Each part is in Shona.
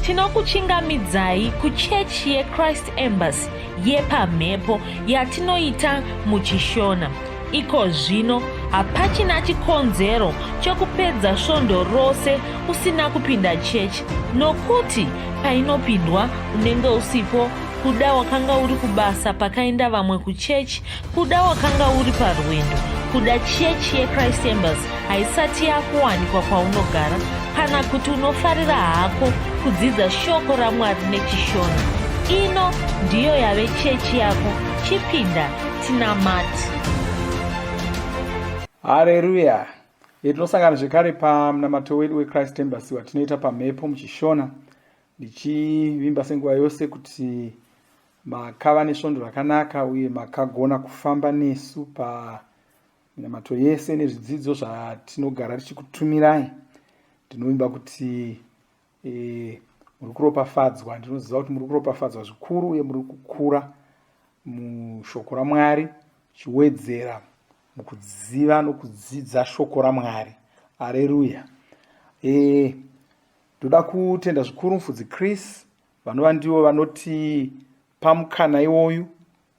Tinokuchingamidzai kuchechi yeChrist Embassy yepamhepo yatinoita muChishona. Iko zvino hapachina chikonzero chokupedza svondo rose usina kupinda chechi nokuti painopindwa unenge usipo kuda wakanga uri kubasa pakaenda vamwe kuchechi Kuda wakanga uri parwendo kuda chechi yechrist embers haisati yakuwanikwa kwaunogara kana kuti unofarira hako kudzidza shoko ramwari nechishona ino ndiyo yave chechi yako chipinda tinamati hareruya itinosangana zvekare pamunamato wedu wechrist embers watinoita pamhepo muchishona ndichivimba senguva yose kuti Makava nesvondo rakanaka uye makagona kufamba nesu paminamato yese nezvidzidzo zvatinogara tichikutumirai. Ndinovimba kuti e, muri kuropafadzwa. Ndinoziva kuti muri kuropafadzwa zvikuru uye muri kukura mushoko raMwari chiwedzera mukuziva nokudzidza shoko raMwari. Aleluya. E, ndoda kutenda zvikuru mufudzi Chris vanova ndivo vanoti pamukana iwoyu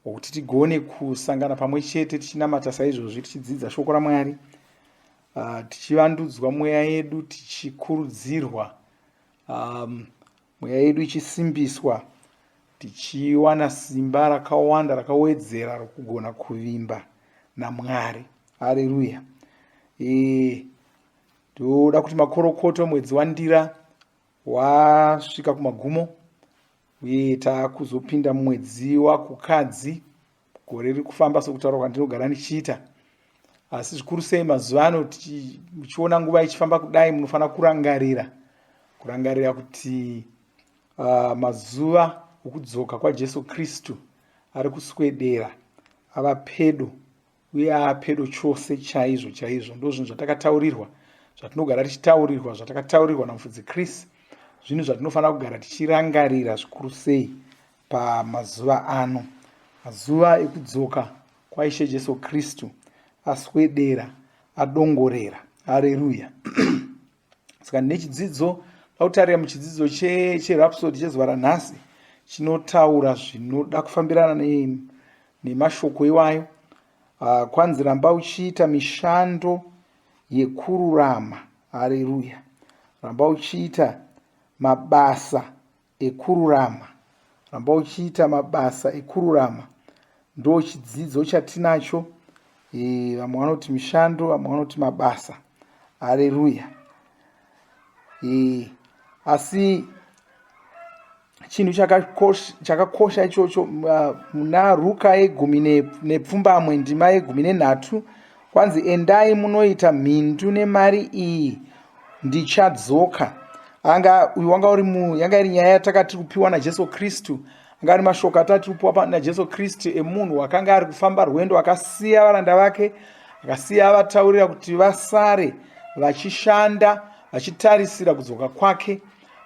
wokuti tigone kusangana pamwe chete tichinamata saizvozvi tichidzidza shoko ramwari ah, tichivandudzwa mweya yedu tichikurudzirwa um, mweya yedu ichisimbiswa tichiwana simba rakawanda rakawedzera rokugona kuvimba namwari hareruya e, toda kuti makorokoto mwedzi wandira wasvika kumagumo uye taakuzopinda mumwedzi wakukadzi gore riri kufamba sokutaura kwandinogara ndichiita asi zvikuru sei mazuva ano muchiona nguva ichifamba kudai munofanira kurangarira kurangarira kuti uh, mazuva okudzoka kwajesu kristu ari kuswedera ava pedo uye apedo chose chaizvo chaizvo ndozvinhu zvatakataurirwa zvatinogara tichitaurirwa zvatakataurirwa namufudzi chris zvinhu zvatinofanira kugara tichirangarira zvikuru sei pamazuva ano mazuva ekudzoka kwaishe jesu kristu aswedera adongorera hareruya saka nechidzidzo tautarira muchidzidzo cherapsod chezuva ranhasi chinotaura zvinoda kufambirana nemashoko iwayo ah, kwanzi ramba uchiita mishando yekururama hareruya ramba uchiita mabasa ekururama ramba uchiita mabasa ekururama ndo chidzidzo chatinacho e, vamwe vanoti mishando vamwe vanoti mabasa hareruya e, asi chinhu chakakosha ichocho muna ruka yegumi nepfumbamwe ndima yegumi nenhatu Kwanzi endai munoita mhindu nemari iyi ndichadzoka. Anga uyu wanga uri mu yanga iri nyaya yatakati kupiwa naJesu Kristu. Anga ari mashoko atati kupiwa naJesu Kristu emunhu wakanga ari kufamba rwendo akasiya varanda vake akasiya vataurira kuti vasare vachishanda vachitarisira kudzoka kwake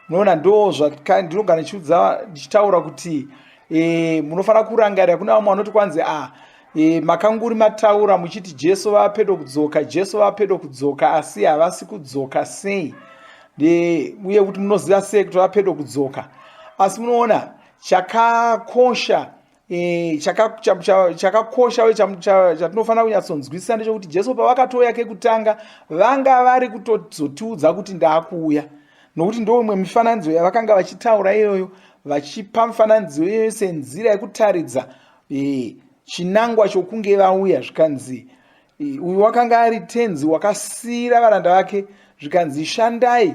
munoona ndo zvaka ndinogara ndichiudza ndichitaura kuti e, munofanira kurangarira kune vamwe vanoti kwanzi a ah, e, makanguri mataura muchiti jesu vava pedo kudzoka jesu vava pedo kudzoka asi havasi kudzoka sei e, uye kuti munoziva sei kuti vava pedo kudzoka asi munoona chakakosha Eh, chakakosha uye chatinofanira kunyatsonzwisisa ndechokuti jesu pavakatouya kekutanga vanga vari kutozotiudza kuti ndaakuuya nokuti ndoumwe mifananidzo yavakanga vachitaura iyoyo vachipa mifananidzo iyoyo senzira yekutaridza eh, chinangwa chokunge vauya zvikanzi eh, uyu wakanga ari tenzi wakasiyira varanda vake zvikanzi shandai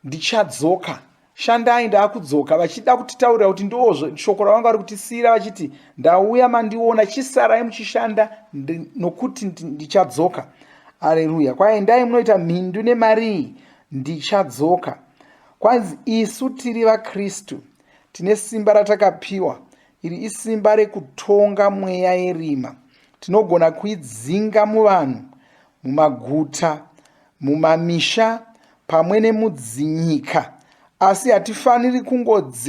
ndichadzoka shandai ndaakudzoka vachida kutitaurira kuti ndoo shoko ravanga vari kutisiyira vachiti ndauya mandiona chisarai muchishanda nokuti ndichadzoka areruya kwaendai munoita mhindu nemarii ndichadzoka kwanzi isu tiri vakristu tine simba ratakapiwa iri isimba rekutonga mweya yerima tinogona kuidzinga muvanhu mumaguta mumamisha pamwe nemudzinyika asi hatifaniri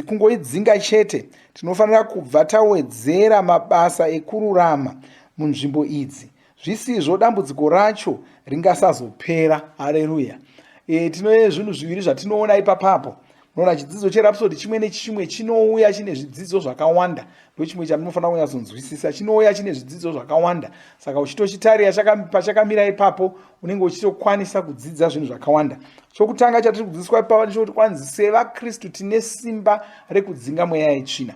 kungoidzinga chete tinofanira kubva tawedzera mabasa ekururama munzvimbo idzi zvisizvo dambudziko racho ringasazopera hareruya e, tine zvinhu zviviri zvatinoona ipapapo noona chidzidzo cherapsodi chimwe nechimwe chinouya chine zvidzidzo zvakawanda ndochimwe chandinofanira kunyatsonzwisisa chinouya chine zvidzidzo zvakawanda saka uchitochitarira pachakamira ipapo unenge uchitokwanisa kudzidza zvinhu zvakawanda chokutanga chatiri kudzidziswa ipapa ndichokuti kwanzi sevakristu tine simba rekudzinga mweya yetsvina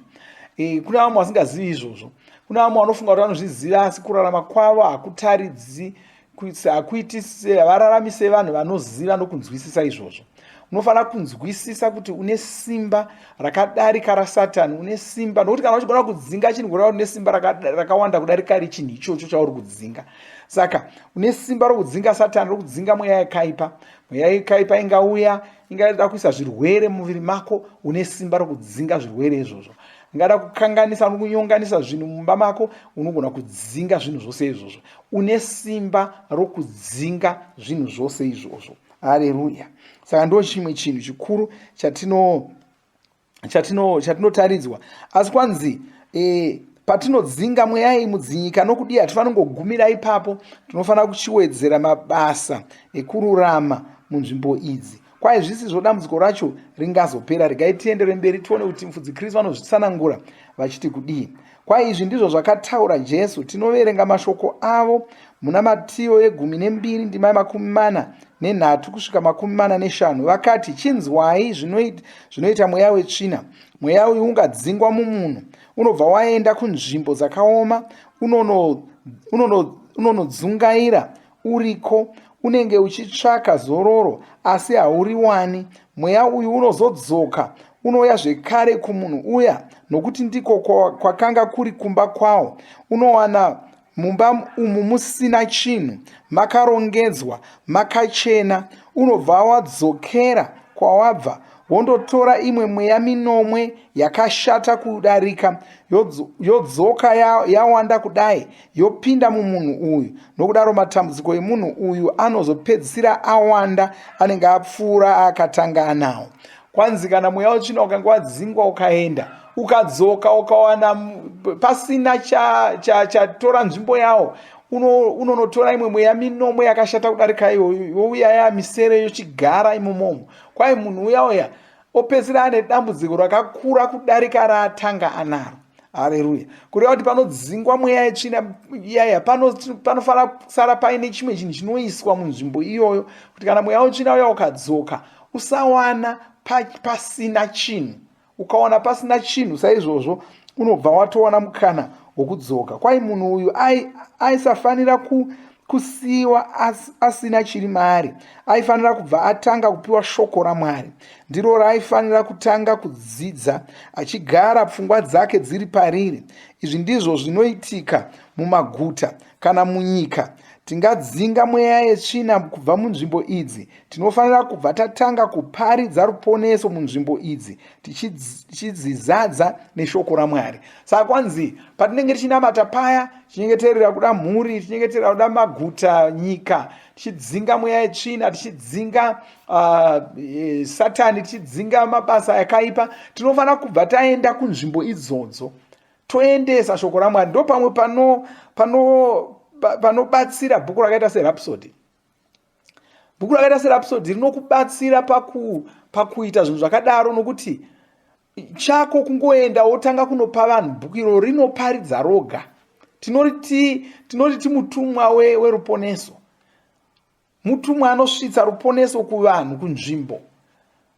e, kuna vamwe vasingazivi izvozvo kuna vamwe vanofunga kuti vanozviziva asi kurarama kwavo hakutaridzi kuitisa hakuitisi havararamise vanhu vanoziva nokunzwisisa izvozvo unofanira kunzwisisa kuti une simba rakadarika rasatani une simba nokuti kana uchigona kudzinga chinhu kureva kuti une simba rakawanda kudarika richinhu ichocho chauri kudzinga saka une simba rokudzinga satani rokudzinga mweya yakaipa mweya yakaipa ingauya ingada kuisa zvirwere mumuviri mako une simba rokudzinga zvirwere izvozvo ingada kukanganisa nokunyonganisa zvinhu mumba mako unogona kudzinga zvinhu zvose izvozvo une simba rokudzinga zvinhu zvose izvozvo hareruya saka ndo chimwe chinhu chikuru chatino chatino chatinotaridzwa asi kwanzi e, patinodzinga mweya iyi mudzinyika nokudii hatifanongogumira ipapo tinofanira kuchiwedzera mabasa ekururama munzvimbo idzi Kwaye zvisizvo dambudziko racho ringazopera. Regai tienderwe mberi tione kuti mfudzi Kristu vanozvitsanangura vachiti kudii. Kwaye izvi ndizvo zvakataura Jesu. Tinoverenga mashoko avo muna Matiyo yegumi nembiri ndima yemakumi mana nenhatu kusvika makumi mana neshanu. Vakati, chinzwai zvinoita, zvinoita mweya wetsvina. Mweya uyu ungadzingwa mumunhu, unobva waenda kunzvimbo dzakaoma, unonodzungaira unono, unono uriko unenge uchitsvaka zororo asi hauriwani mweya uyu unozodzoka unouya zvekare kumunhu uya nokuti ndiko kwakanga kuri kumba kwawo unowana mumba umu musina chinhu makarongedzwa makachena unobva wadzokera kwawabva wondotora imwe mweya minomwe yakashata kudarika yodzoka yawanda ya kudai yopinda mumunhu uyu nokudaro matambudziko emunhu uyu anozopedzisira awanda anenge apfuura aakatanga anawo kwanzi kana mweya wetsvina ukange wadzingwa ukaenda ukadzoka ukawana pasina chatora cha, cha, cha nzvimbo yawo unonotora uno imwe mweya minomwe yakashata kudarika iyoyo youya yamisere yochigara imomomo kwai munhu uya uya opedzisira ane dambudziko rakakura kudarika raatanga anaro hareruya kureva kuti panodzingwa mweya yetsvina iyaya panofanira kusara paine chimwe chinhu chinoiswa munzvimbo iyoyo kuti kana mweya wetsvina uya ukadzoka usawana pasina chinhu ukawana pasina chinhu saizvozvo unobva watowana mukana wokudzoka kwai munhu uyu aisafanira ku, kusiyiwa as, asina chiri maari aifanira kubva atanga kupiwa shoko ramwari ndiro raaifanira kutanga kudzidza achigara pfungwa dzake dziri pariri izvi ndizvo zvinoitika mumaguta kana munyika tingadzinga mweya yetsvina kubva munzvimbo idzi Tinofanira kubva tatanga kuparidza ruponeso munzvimbo idzi tichidzizadza neshoko raMwari. Saka kwanzi patinenge tichinamata paya tichinyengeterera kuda mhuri, tichinyengeterera kuda maguta, nyika, tichidzinga mweya yetsvina, tichidzinga uh, satani, tichidzinga mabasa yakaipa, tinofanira kubva taenda kunzvimbo idzodzo toendesa shoko raMwari. Ndo pamwe panobatsira pano, pano bhuku rakaita serapsody bhuku rakaita serapsodi rinokubatsira paku pakuita zvinhu zvakadaro nokuti chako kungoenda wotanga kunopa vanhu bhuku iro rinoparidza roga tinoti tinoti mutumwa weruponeso we mutumwa anosvitsa ruponeso kuvanhu kunzvimbo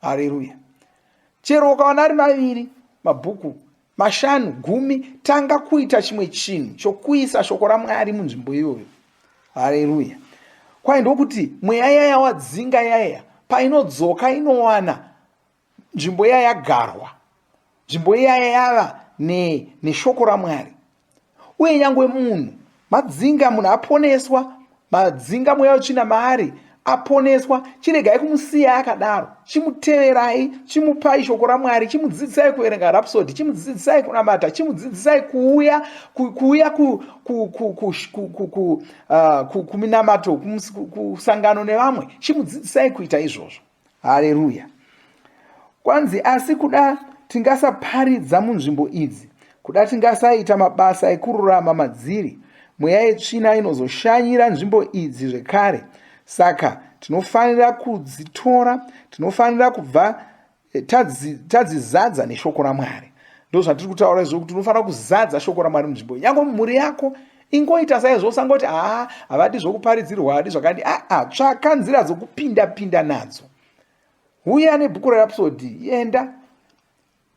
haleluya chero ukawana ari maviri mabhuku mashanu gumi tanga kuita chimwe chinhu chokuisa shoko ramwari munzvimbo iyoyo haleluya kwai ndokuti mweya yaya wadzinga yaya painodzoka inowana nzvimbo iya yagarwa nzvimbo iyaya yava neshoko ramwari uye nyangwe munhu madzinga munhu aponeswa madzinga mweya wetsvina maari aponeswa chiregai kumusiya akadaro chimuteverai chimupai shoko ramwari chimudzidzisai kuverenga rapsodi chimudzidzisai kunamata chimudzidzisai kuuya kuuya kuminamato kusangano nevamwe chimudzidzisai kuita izvozvo haleruya kwanzi asi kuda tingasaparidza munzvimbo idzi kuda tingasaita mabasa ekururama madziri mweya yetsvina inozoshanyira nzvimbo idzi zvekare saka tinofanira kudzitora tinofanira kubva eh, tadzizadza neshoko ramwari ndozvatiri kutaura izvo kuti unofanira kuzadza shoko ramwari munzvimbo yange mhuri yako ingoita saizvo usangoti haa havadi zvokuparidzirwa havadi zvakadi aa ah, ah, tsvaka nzira dzokupinda pinda nadzo huya nebhuku rerapsodi yenda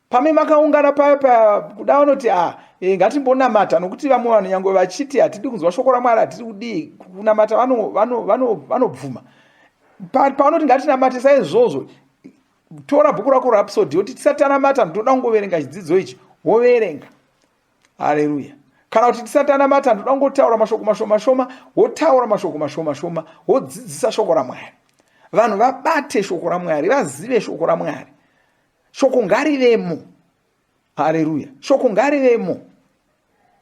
pame makaungana paya paya kuda vanoti a ah, eh, ngatimbonamata nokuti vamwe vanhu nyange vachiti hatidi kunzwa shoko ramwari hatidi kudii kunamata vanobvuma pavanoti ngatinamate saizvozvo tora bhuku rako rapsodi yoti tisati tanamata ndoda kungoverenga chidzidzo ichi woverenga haleluya kana kuti tisati anamata ndoda kungotaura mashoko mashoma shoma wotaura mashoko mashoma shoma wodzidzisa shoko ramwari vanhu vabate shoko ramwari vazive shoko ramwari shoko ngarivemo haleluya shoko ngarivemo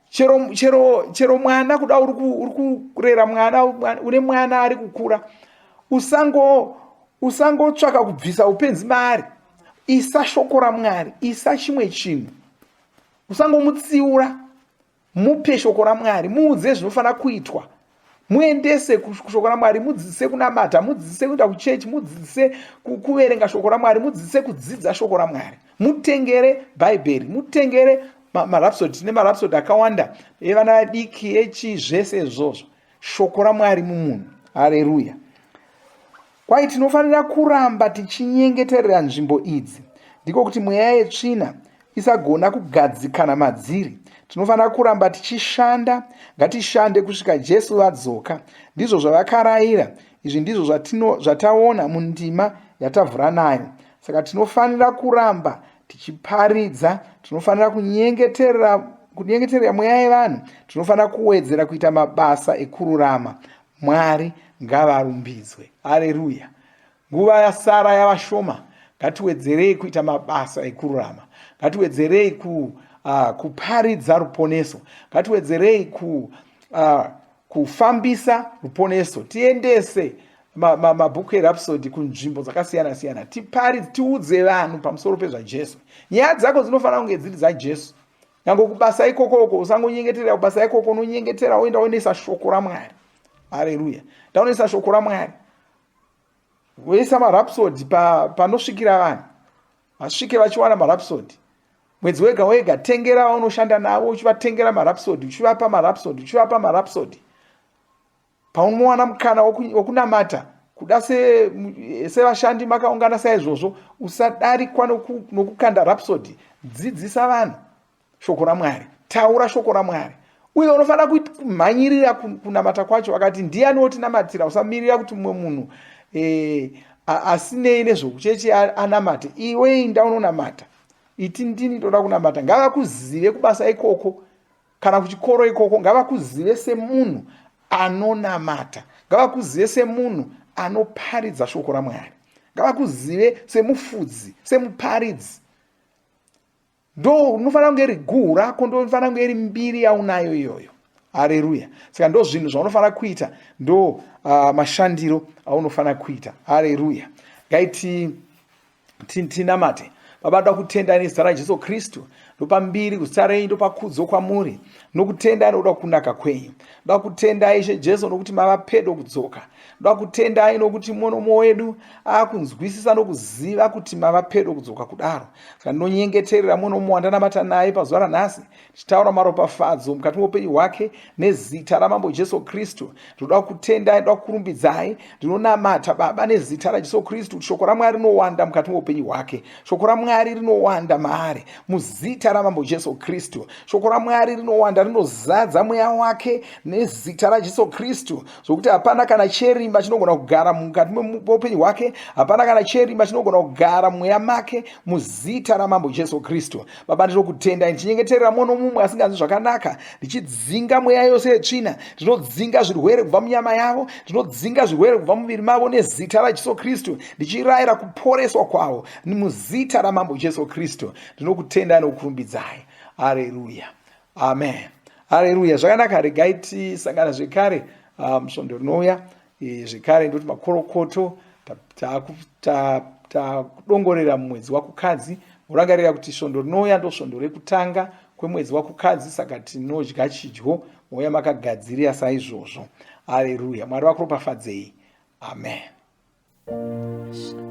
chero chero chero mwana kuda uri kurera mwana une mwana ari kukura usango usangotsvaka kubvisa upenzi maari isa shoko ramwari isa chimwe chinhu usangomutsiura mupe shoko ramwari muudze zvinofanira kuitwa muendese kushoko ramwari mudzidzise kunamata mudzidzise kuenda kuchechi mudzidzise kuverenga shoko ramwari mudzidzise kudzidza shoko ramwari mutengere bhaibheri mutengere marapsod tine marapsod akawanda evana vadiki echi zvese izvozvo shoko ramwari mumunhu hareruya Kwahi tinofanira kuramba tichinyengeterera nzvimbo idzi, ndiko kuti mweya yetsvina isagona kugadzikana madziri. Tinofanira kuramba tichishanda, ngatishande kusvika Jesu vadzoka. Ndizvo zvavakaraira, izvi ndizvo zvataona mundima yatavhura nayo. Saka tinofanira kuramba tichiparidza, tinofanira kunyengeterera kunyengeterera mweya yevanhu tinofanira kuwedzera kuita mabasa ekururama Mwari ngavarumbidzwe. Haleluya. Nguva yasara yava shoma. Ngatiwedzerei kuita mabasa ekururama. Ngatiwedzerei ku uh, kuparidza ruponeso. Ngatiwedzerei ku uh, kufambisa ruponeso. Tiendese mabhuku erapsodi kunzvimbo dzakasiyana siyana. Tiparidze, tiudze vanhu pamusoro pezvaJesu. Nyaya dzako dzinofanira kunge dziri dzaJesu. nyange kubasa ikoko uko usangonyengeterera kubasa ikoko unonyengetera woenda wonoisa shoko ramwari hareruya ndaunoisa shoko ramwari woisa marapsodi panosvikira vanhu vasvike vachiwana marapsodi mwedzi wega wega tengera vaunoshanda navo uchivatengera marapsodi uchivapa marapsodi uchivapa marapsodi Paunowana mukana wokunamata kuda sevashandi makaungana saizvozvo, usadarikwa nokukanda rapsodi. Dzidzisa vanhu shoko raMwari, taura shoko raMwari uye unofanira kumhanyirira kunamata kwacho akati ndiyani wotinamatira usamirira kuti mumwe munhu eh, asinei nezvokucheche anamate iwe inda unonamata iti ndini ndoda kunamata ngavakuzive kubasa ikoko kana kuchikoro ikoko ngavakuzive semunhu anonamata ngavakuzive semunhu anoparidza shoko ramwari ngavakuzive semufudzi semuparidzi ndo unofanira kunge iri guhu rako ndo unofanira kunge iri mbiri yaunayo iyoyo hareruya saka ndo zvinhu zvaunofanira kuita ndo uh, mashandiro aunofanira kuita hareruya ngaiti tinamate baba ndoda kutenda nezita rajesu kristu ndopa mbiri kuzita renyu ndopa kudzo kwamuri nokutendai nokuda kunaka kwenyu ndoda kutendai ishe jesu nokuti mava pedo kudzoka ndoda kutendai nokuti monomo wedu akunzwisisa nokuziva kuti mava pedo kudzoka kudaro saka ndinonyengeterera monomo wandanamata naye pazuva ranhasi chitaura maropafadzo mukati meupenyu hwake nezita ramambo jesu kristu ndinoda kutendai ndoda kukurumbidzai ndinonamata baba nezita rajesu kristu kuti shoko ramwari rinowanda mukati meupenyu hwake shoko ramwari rinowanda maari muzita ramambo jesu kristu shoko ramwari rinowanda rinozadza mweya wake nezita rajesu kristu zvokuti hapana kana cherima chinogona kugara mukati meupenyu hwake hapana kana cherima chinogona kugara mweya make muzita ramambo jesu kristu Baba, ndinokutendai ndichinyengeterera mumwe nomumwe asinganzi zvakanaka, ndichidzinga mweya yose yetsvina, ndinodzinga zvirwere kubva munyama yavo, ndinodzinga zvirwere kubva mumuviri mavo nezita raJesu Kristu, ndichirayira kuporeswa kwavo muzita raMambo Jesu Kristu. Ndinokutendai nokukurumbidzai. Hareruya, amen. Hareruya. Zvakanaka, regai tisangana zvekare ah, musvondo rinouya. E, zvekare ndoti makorokoto takudongorera mumwedzi wakukadzi morangarira kuti svondo rinouya ndosvondo rekutanga kwemwedzi wakukadzi saka tinodya chidyo mouya makagadzirira saizvozvo aleruya mwari vakuropafadzei amen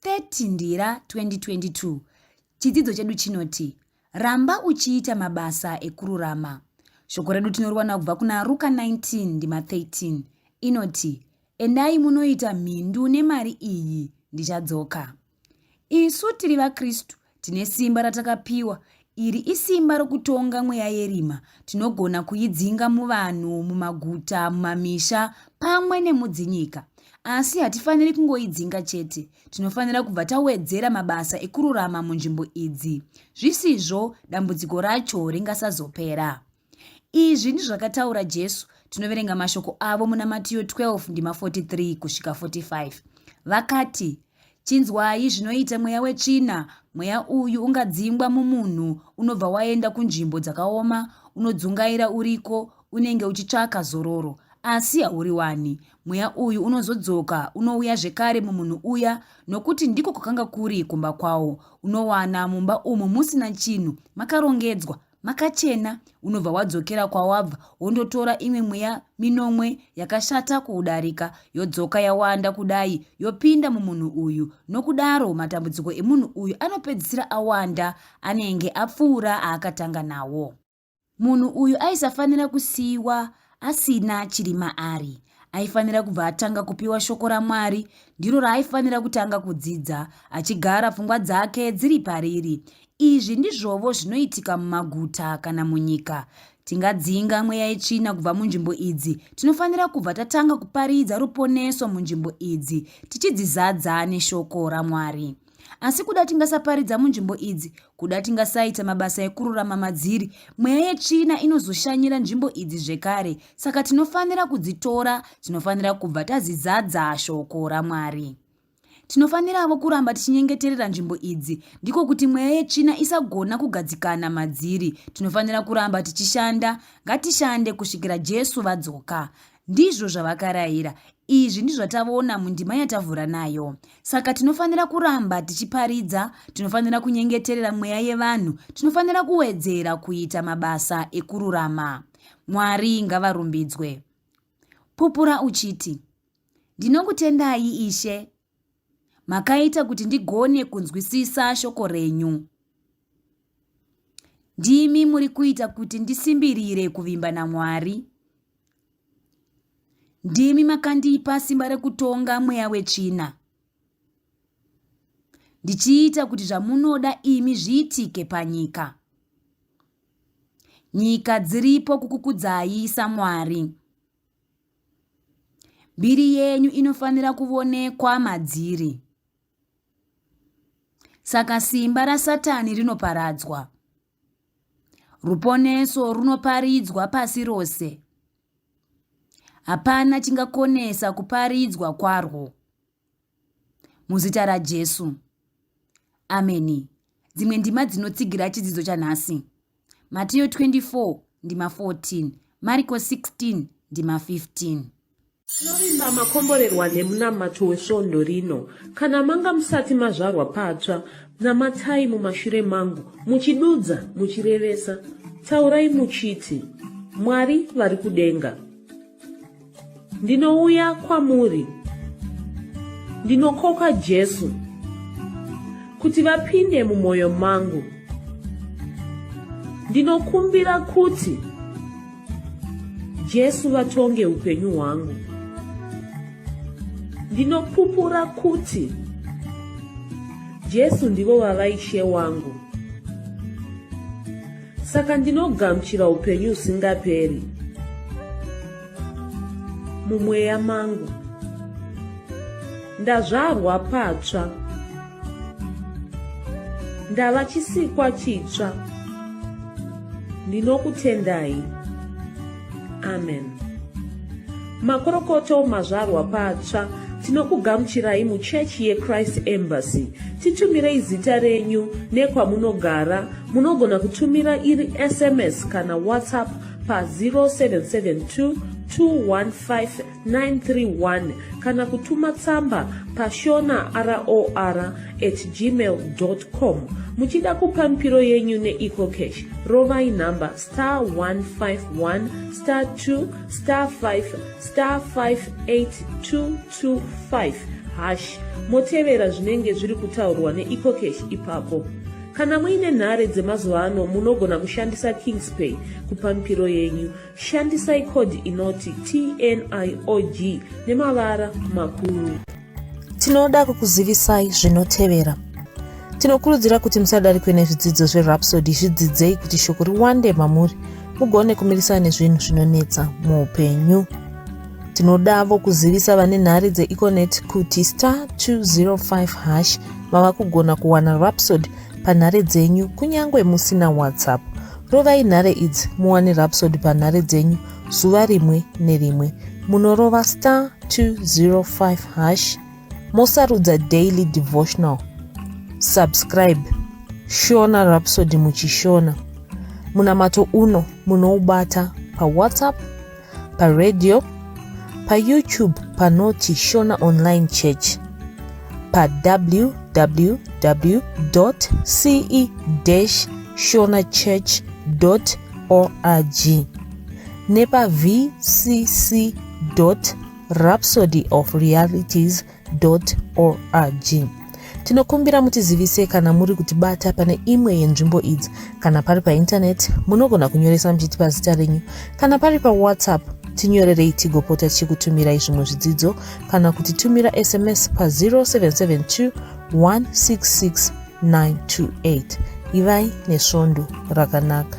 30 Ndira 2022 Chidzidzo chedu chinoti Ramba uchiita mabasa ekururama. Shoko redu tinoriwana kubva kuna Ruka 19 ndima 13 inoti endai munoita mhindu nemari iyi ndichadzoka. Isu tiri vaKristu Tine simba ratakapiwa. Iri isimba rokutonga mweya yerima. Tinogona kuidzinga muvanhu, mumaguta, mumamisha, pamwe nemudzinyika. Asi hatifaniri kungoidzinga chete. Tinofanira kubva tawedzera mabasa ekururama munzvimbo idzi. Zvisizvo, dambudziko racho ringasazopera. Izvi ndizvakataura Jesu. Tinoverenga mashoko avo muna Matiyo 12 ndima 43 kusvika 45. Vakati, Chinzwai zvinoita mweya wetsvina. Mweya uyu ungadzingwa mumunhu, unobva waenda kunzvimbo dzakaoma, unodzungaira uriko, unenge uchitsvaka zororo, asi hauri wani. Mweya uyu unozodzoka, unouya zvekare mumunhu uya, nokuti ndiko kwakanga kuri kumba kwawo. Unowana mumba umu musina chinhu, makarongedzwa, makachena unobva wadzokera kwawabva wondotora imwe mweya minomwe yakashata kuudarika yodzoka yawanda kudai yopinda mumunhu uyu nokudaro matambudziko emunhu uyu anopedzisira awanda anenge apfuura aakatanga nawo munhu uyu aisafanira kusiyiwa asina chiri maari aifanira kubva atanga kupiwa shoko ramwari ndiro raaifanira kutanga kudzidza achigara pfungwa dzake dziri pariri izvi ndizvovo zvinoitika mumaguta kana munyika tingadzinga mweya yetsvina kubva munzvimbo idzi tinofanira kubva tatanga kuparidza ruponeso munzvimbo idzi tichidzizadza neshoko ramwari asi kuda tingasaparidza munzvimbo idzi kuda tingasaita mabasa ekururama madziri mweya yetsvina inozoshanyira nzvimbo idzi zvekare saka tinofanira kudzitora tinofanira kubva tazidzadza shoko ramwari tinofaniravo kuramba tichinyengeterera nzvimbo idzi ndiko kuti mweya yetsvina isagona kugadzikana madziri tinofanira kuramba tichishanda ngatishande kusvikira jesu vadzoka Ndizvo zvavakarayira. Izvi ndizvatavona mundima yatavhura nayo. Saka tinofanira kuramba tichiparidza, tinofanira kunyengeterera mweya yevanhu, tinofanira kuwedzera kuita mabasa ekururama. Mwari ngavarumbidzwe. Pupura uchiti, Ndinokutendai Ishe Makaita kuti ndigone kunzwisisa shoko renyu. Ndimi muri kuita kuti ndisimbirire kuvimba naMwari. Ndimi makandipa simba rekutonga mweya wetsvina. Ndichiita kuti zvamunoda imi zviitike panyika. Nyika dziripo kukukudzai saMwari. Mbiri yenyu inofanira kuvonekwa madziri. Saka simba raSatani rinoparadzwa. Ruponeso runoparidzwa pasi rose. Hapana chingakonesa kuparidzwa kwarwo. muzita rajesu ameni dzimwe ndima dzinotsigira chidzidzo chanhasi matiyo 24 ndima 14 mariko 16 ndima 15 tinovimba makomborerwa nemunamato wesvondo rino kana manga musati mazvarwa patsva namatai mumashure mangu muchidudza muchirevesa taurai muchiti mwari vari kudenga ndinouya kwamuri ndinokoka jesu kuti vapinde mumwoyo mangu ndinokumbira kuti jesu vatonge upenyu hwangu ndinopupura kuti jesu ndivo vava ishe wangu saka ndinogamuchira upenyu husingaperi mumweya mangu ndazvarwa patsva ndava chisikwa chitsva ndinokutendai amen makorokoto mazvarwa patsva tinokugamuchirai muchechi yechrist embassy titumirei zita renyu nekwamunogara munogona kutumira iri sms kana whatsapp pa 0772 215 931 kana kutuma tsamba pashona ror at gmail com muchida kupa mipiro yenyu neecocash rovai nhamba star 151 star 2 star 5 star 58225 hash motevera zvinenge zviri kutaurwa neecocash ipapo kana muine nhare dzemazuva ano munogona kushandisa kingspay kupa mipiro yenyu Shandisai code inoti TNIOG nemavara makuru. Tinoda kukuzivisai zvinotevera. Tinokurudzira kuti musadarikwe nezvidzidzo zveRhapsody zvidzidzei kuti shoko riwande mamuri mugone kumirisana nezvinhu zvinonetsa muupenyu. Tinodavo kuzivisa vane nhare dzeEconet kuti star 205 hash mava kugona kuwana Rhapsody panhare dzenyu kunyange musina WhatsApp. Rovai nhare idzi muwane Rhapsody panhare dzenyu zuva rimwe nerimwe. Munorova star 205 hash mosarudza daily devotional. Subscribe Shona Rhapsody muchishona. Munamato uno munoubata paWhatsApp paradio payoutube panoti shona online church pawww ce shona church org nepavcc rhapsody of realities org tinokumbira mutizivise kana muri kutibata pane imwe yenzvimbo idzi kana pari paintaneti munogona kunyoresa muchiti pazita renyu kana pari pawhatsapp tinyorerei tigopota tichikutumirai zvimwe zvidzidzo kana kuti tumira sms pa0772 166 928 ivai nesvondo rakanaka